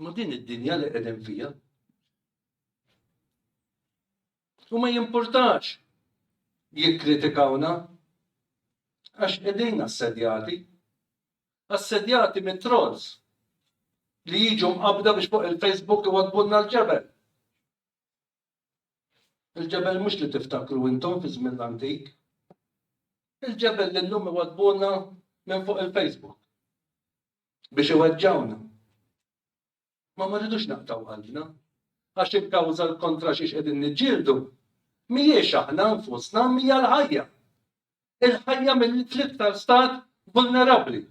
Ma din id-dinja li qegħdin fija. U ma jimpurtax jikkritikawna għax qegħdin assedjati. Assedjati mit trolls li jiġu mqabda biex fuq il-Facebook iwadbunna l-ġebel. Il-ġebel mhux li tiftakru intom fi żmien l-antik. Il-ġebel li llum iwaddbuna minn fuq il-Facebook biex iweġġawna. Ma ma rridux naqtaw qalbna għax il-kawża l-kontra xiex qegħdin niġġieldu mhijiex aħna nfusna mija l-ħajja. Il-ħajja mill-iktar stat vulnerabbli.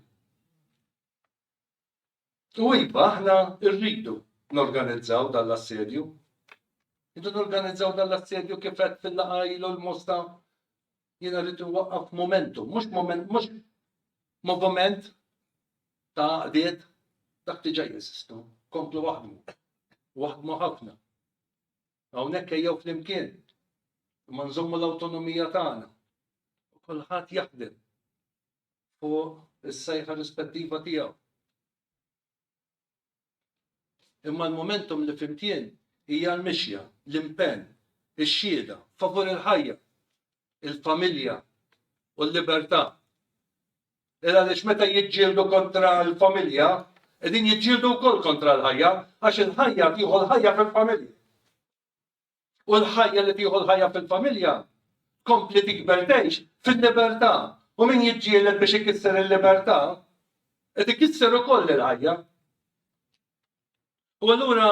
U iva, aħna rridu norganizzaw dan l-assedju. Rridu norganizzaw dan l-assedju kif qed fil-laqgħa ilu l-mosta jiena rridu waqqaf momentum, mhux moment, mhux moviment ta' għaqdiet dak diġà jeżistu, komplu waħdmu, waħdmu ħafna. Hawnhekk ejjew flimkien, ma nżommu l-awtonomija tagħna. Kulħadd jaħdem fuq is-sejħa rispettiva tiegħu. Imma l-momentum li flimkien hija l-mixja, l-impenn, ix-xhieda favur il-ħajja, il-familja u l-libertà. Il għaliex meta jiġġieldu kontra l-familja, qegħdin jiġġieldu wkoll kontra l-ħajja, għax il-ħajja tieħu l-ħajja fil-familja. u l-ħajja li tieħu l-ħajja fil-familja tkompli tikber tgħix fil-libertà u min jiġġieled biex ikisser il-libertà qed ikisser ukoll il-ħajja. U allura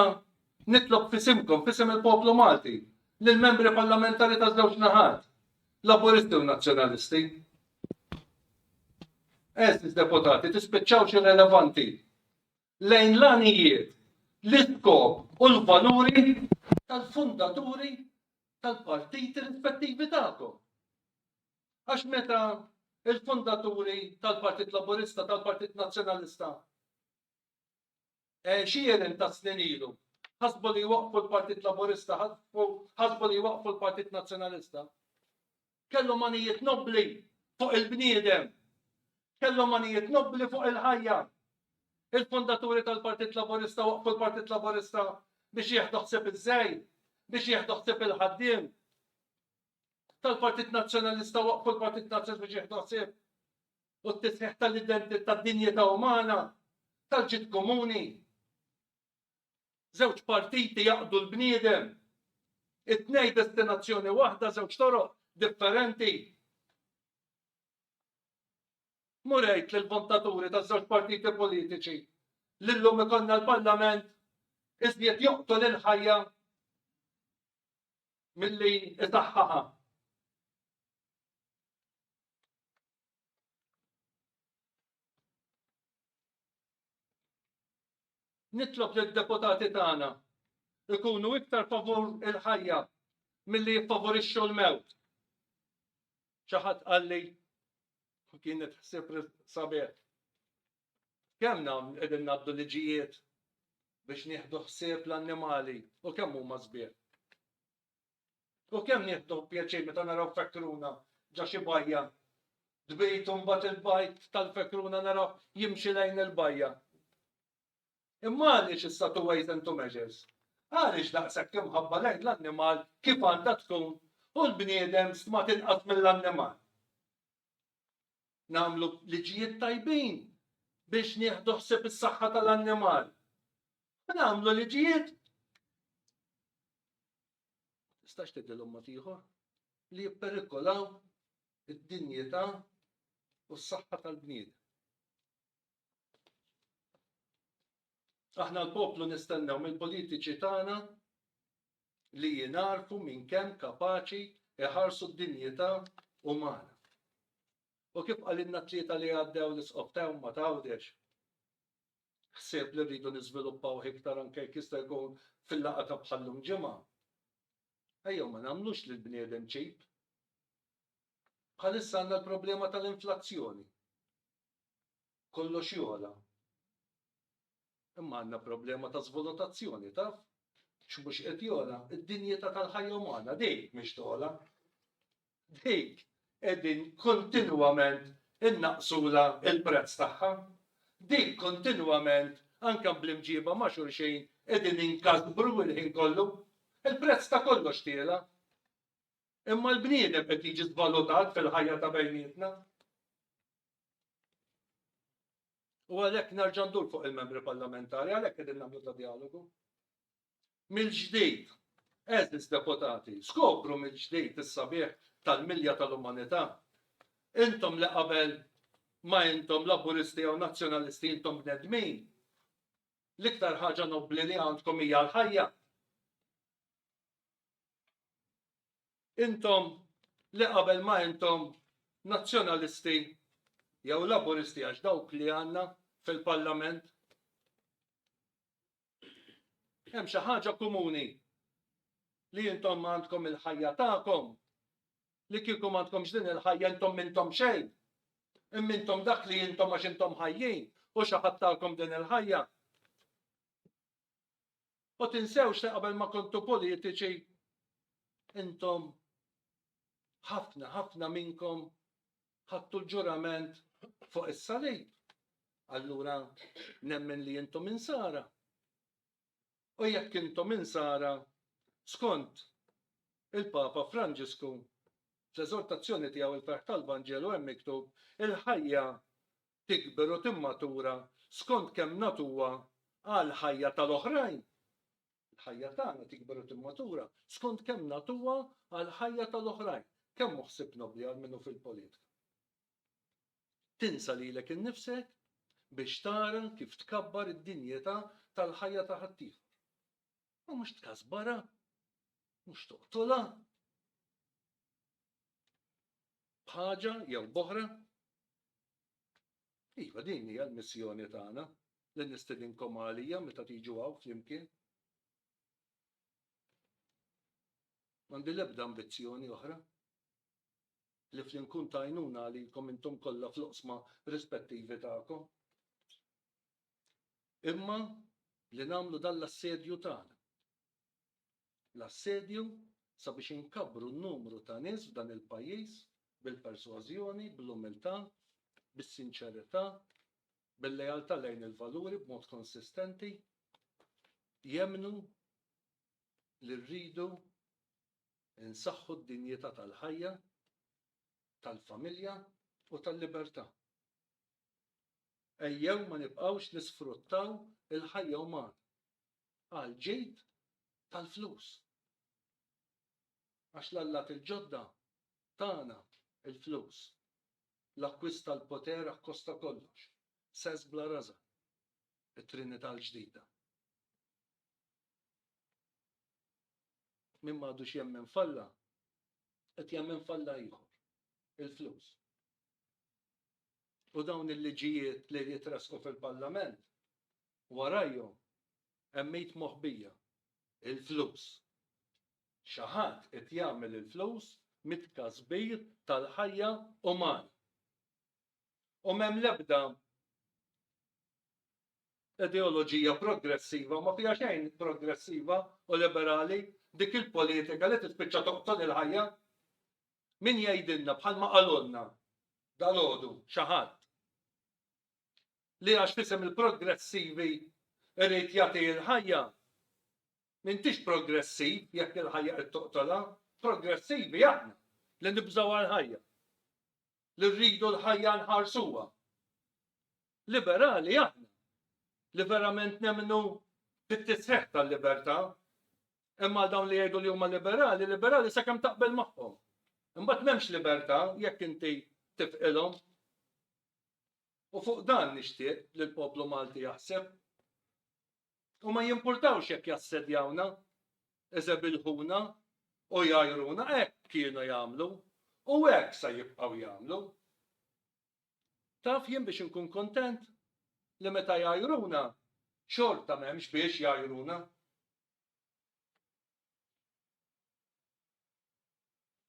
nitlob fisimkom, fisem il-poplu Malti, lill membri parlamentari ta' żewġ naħat, laburisti u nazzjonalisti. Eżis deputati, tispiċċawx irrelevanti lejn l-għanijiet, l-iskop u l-valuri tal-fundaturi tal-partiti rispettivi tagħkom. Għax meta il-fundaturi tal-Partit Laburista, tal-Partit Nazzjonalista, eh, xieren ta' snin ilu, ħasbu li waqfu l-Partit Laburista, ħasbu li waqfu l-Partit Nazzjonalista. Kellhom għanijiet nobbli fuq il-bniedem. Kellhom għanijiet nobbli fuq il-ħajja. Il-fondaturi tal-Partit Laburista waqqfu l-Partit Laburista biex jieħdu ħsieb iż-żgħir, biex jieħdu ħsieb il-ħaddiem. Tal-Partit Nazzjonalista waqqfu l-Partit Nazzjonalista biex jieħdu ħsieb u t-tisħiħ tal-identità tad-dinjità umana, tal-ġid komuni. Żewġ partiti jaqdu l-bniedem. It-tnejn destinazzjoni waħda, żewġ toroq differenti. Murejt lil vontaturi ta' żewġ partiti politiċi li llum ikollna l-Parlament iżjed joqtol il-ħajja milli isaħħaha. Nitlob li d-deputati tagħna jkunu iktar favur il-ħajja milli jiffavorixxu l-mewt. Xi ħadd qalli u kienet ħsieb sabiħ. Kemm nagħmlu qegħdin ngħaddu liġijiet biex nieħdu ħsieb l-annimali u kemm huma sbieħ. U kemm nieħdu pjaċir meta naraw fekruna ġo xi bajja tbid u mbagħad il-bajt tal-fekruna naraw jimxi lejn il-bajja. Imma għaliex issa two ways and two measures? Għaliex daqshekk imħabba lejn l-annimal kif għandha tkun u l-bniedem stmat inqas mill-annimal? Nagħmlu liġijiet tajbin biex nieħdu ħsieb is-saħħa tal-annimal. Nagħmlu liġijiet tistax tgħidilhom mod ieħor, li jipperikolaw id-dinjità u s-saħħa tal-bniedem. Aħna l-poplu nistennew mill-politiċi tagħna li jinarfu minn kemm kapaċi iħarsu d-dinjità umana. U kif qalilna tlieta li għaddew l-isqob ta' ma tawdex, ħsieb li rridu niżviluppawh iktar anke jekk jista' jkun fil-laqgħa ta' bħal-lum ġimgħa. Ejjew ma nagħmlux lill-bniedem cheap. Bħalissa għandna l-problema tal-inflazzjoni. Kollox jogħla. Imma għandna problema ta' żvolutazzjoni, taf? X'mhux qed jogħla? Id-dinjità tal-ħajja umana, din mhix togħla. dik qegħdin kontinwament innaqqsulha l-prezz tagħha, dik kontinwament anke bl-imġiba ma' xulxin qegħdin inkasbru l-ħin kollu, il-prezz ta' kollox tiela'. Imma l-bniedem qed jiġi żvalutat fil-ħajja ta' bejnietna. U għalhekk nerġa' ndur fuq il-membri parlamentari, għalhekk qegħdin nagħmlu ta' dialogu. mill-ġdid. Għeżież deputati, skopru mill-ġdid is-sabiħ tal-milja tal-umanità. Intom li qabel ma intom Laburisti jew Nazzjonalisti intom bnedmin, l-iktar ħaġa nobbli li għandkom hija l-ħajja. Intom li qabel ma intom Nazzjonalisti jew Laburisti għax dawk li għandna fil-Parlament Hemm xi ħaġa komuni li intom għandkom il-ħajja tagħkom li kieku m'għandkomx din il-ħajja intom m'intom xejn. Imma intom dak li intom għax intom ħajjin u xi ħadd tagħkom din il-ħajja. U tinsewx li qabel ma kontu politiċi intom ħafna ħafna minnkom ħadtu l-ġurament fuq is-salib, allura nemmen li intom insara. U jekk intom insara, skont il-Papa Franġisku, fl-eżortazzjoni tiegħu il-ferħ tal-Vanġelu hemm miktub il-ħajja tikber u timmatura skont kemm natuha għal ħajja tal-oħrajn. Il-ħajja tagħna tikber u timmatura skont kemm nagħtuha għall-ħajja tal-oħrajn, kemm hu ħsieb nobbli għal min hu fil-politika. Tinsa lilek innifsek biex tara kif tkabbar id-dinjità tal-ħajja ta' ħaddieħor. Ma mhux tkasbarha, mhux toqtolha. B'ħaġa jew b'oħra. Iva, din hija l-missjoni tagħna li nistedinkom għalija meta tiġu hawn flimkien. M'għandi l-ebda ambizzjoni oħra li fli nkun ta' għajnuna għalikom intom kollha fl-oqsma rispettivi tagħkom. Imma li nagħmlu dan l-assedju tagħna. l-assedju sabiex inkabbru n-numru ta' nies f'dan il-pajjiż bil-persważjoni, bl-umiltà, bis-sinċerità, bil-lealtà lejn il-valuri b'mod konsistenti, jemmnu li rridu nsaħħu d-dinjità tal-ħajja, tal-familja u tal-libertà. Ejjew ma nibqgħux nisfruttaw il-ħajja umana għall-ġid tal-flus. Għax l-allat il-ġodda tana l-flus. L-akkwist tal-poter akkosta kollox. Sess bla rażan. It-Trinità l-ġdida. Min m'għadux jemmen f'Alla, qed jemmen f'Alla ieħor, il-flus. U dawn il-liġijiet li jitrasqu fil-Parlament warajhom hemm id moħbija, il-flus. Xi ħadd qed jagħmel il-flus mit-tkasbir tal-ħajja umana. U m'hemm l-ebda ideoloġija progressiva, ma fiha xejn progressiva u liberali dik il-politika li tispiċċa toqtol il-ħajja. Min jgħidilna bħalma qalulna dal-għodu xi ħadd li għax f'isem il-progressivi jrid jagħti l-ħajja. M'intix progressiv jekk il-ħajja qed toqtolha. Progressivi aħna li nibżgħuha l-ħajja, li rridu l-ħajja nħarsuha. Liberali aħna li verament nemmnu fit-tisħiħ tal-libertà. Hemm għal dawn li jgħidu li huma liberali, liberali sakemm taqbel magħhom. Imbagħad m'hemmx libertà jekk inti tifqilhom. U fuq dan nixtieq li l-poplu Malti jaħseb. U ma jimpurtawx jekk jassedjawna, iżebilħuna u jgħajruna hekk kienu jagħmlu u hekk sa jibqgħu jagħmlu. Taf jien biex inkun kuntent li meta jgħajruna xorta m'hemmx biex jgħajruna.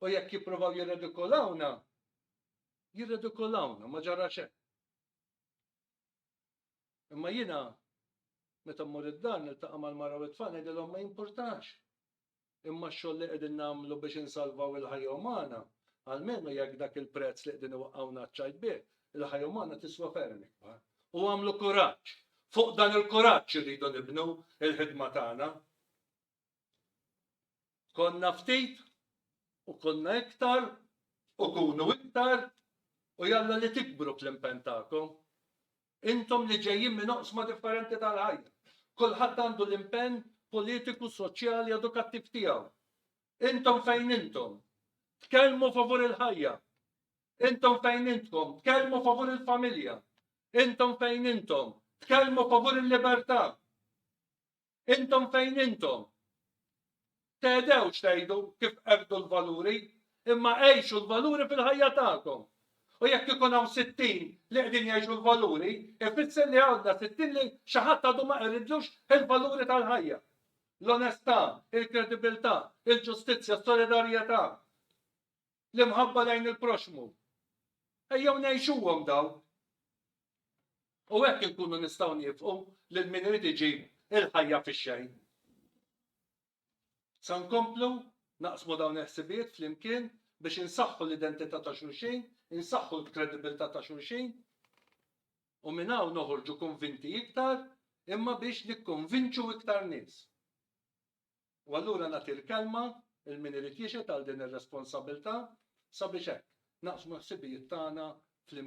U jekk jippruvaw jirredikolawna, jirredikolawna, ma ġara xejn. Imma jiena meta mmur id-dar niltaqa' mal-mara u t-tfal ngħidilhom ma jimpurtax. Imma x-xogħol li qegħdin nagħmlu biex insalvaw il-ħajja umana, almenu jekk dak il-prezz li qegħdin iwaqqgħuna ċ-ċajt bih, il-ħajja umana tiswa ferm ikbar. U għamlu kuraġġ. Fuq dan il-kuraġġ irridu nibnu l-ħidma tagħna. Konna ftit u konna iktar u kunu iktar u jalla li tikbru fl-impenn tagħkom. Intom li ġejjin minn oqsma differenti tal-ħajja. Kulħadd għandu l-impenn politiku, soċjali, edukattiv tiegħu. Intom fejn intom? Tkellmu favur il-ħajja. Intom fejn intkom? Tkellmu favur il-familja. Intom fejn intom? Tkellmu favur il-libertà. Intom fejn intom? Tedewx tgħidu kif qerdu l-valuri, imma għejxu l-valuri fil-ħajja tagħkom. U jekk ikun hawn sittin li qegħdin jgħixu l-valuri, ifisser li għandna sittin li xi ħadd għadu ma qeridlux il-valuri tal-ħajja. L-onestà, il-kredibilità, il-ġustizzja, s-solidarjetà. l-imħabba lejn il-proxxmu. Ejjew ngħixuhom dawn. U hekk inkunu nistgħu nifqu lil min irid iġib il-ħajja fix-xejn. Sa nkomplu naqsmu dawn il-ħsibijiet flimkien biex insaħħu l-identità ta' xulxin, insaħħu l-kredibilità ta' xulxin, u minn hawn noħorġu konvinti iktar imma biex nikkonvinċu iktar nies. U allura nagħti l-kelma lil min irid jixhed għal din ir-responsabbiltà sabiex hekk naqsmu l-ħsibijiet tagħna flimkien.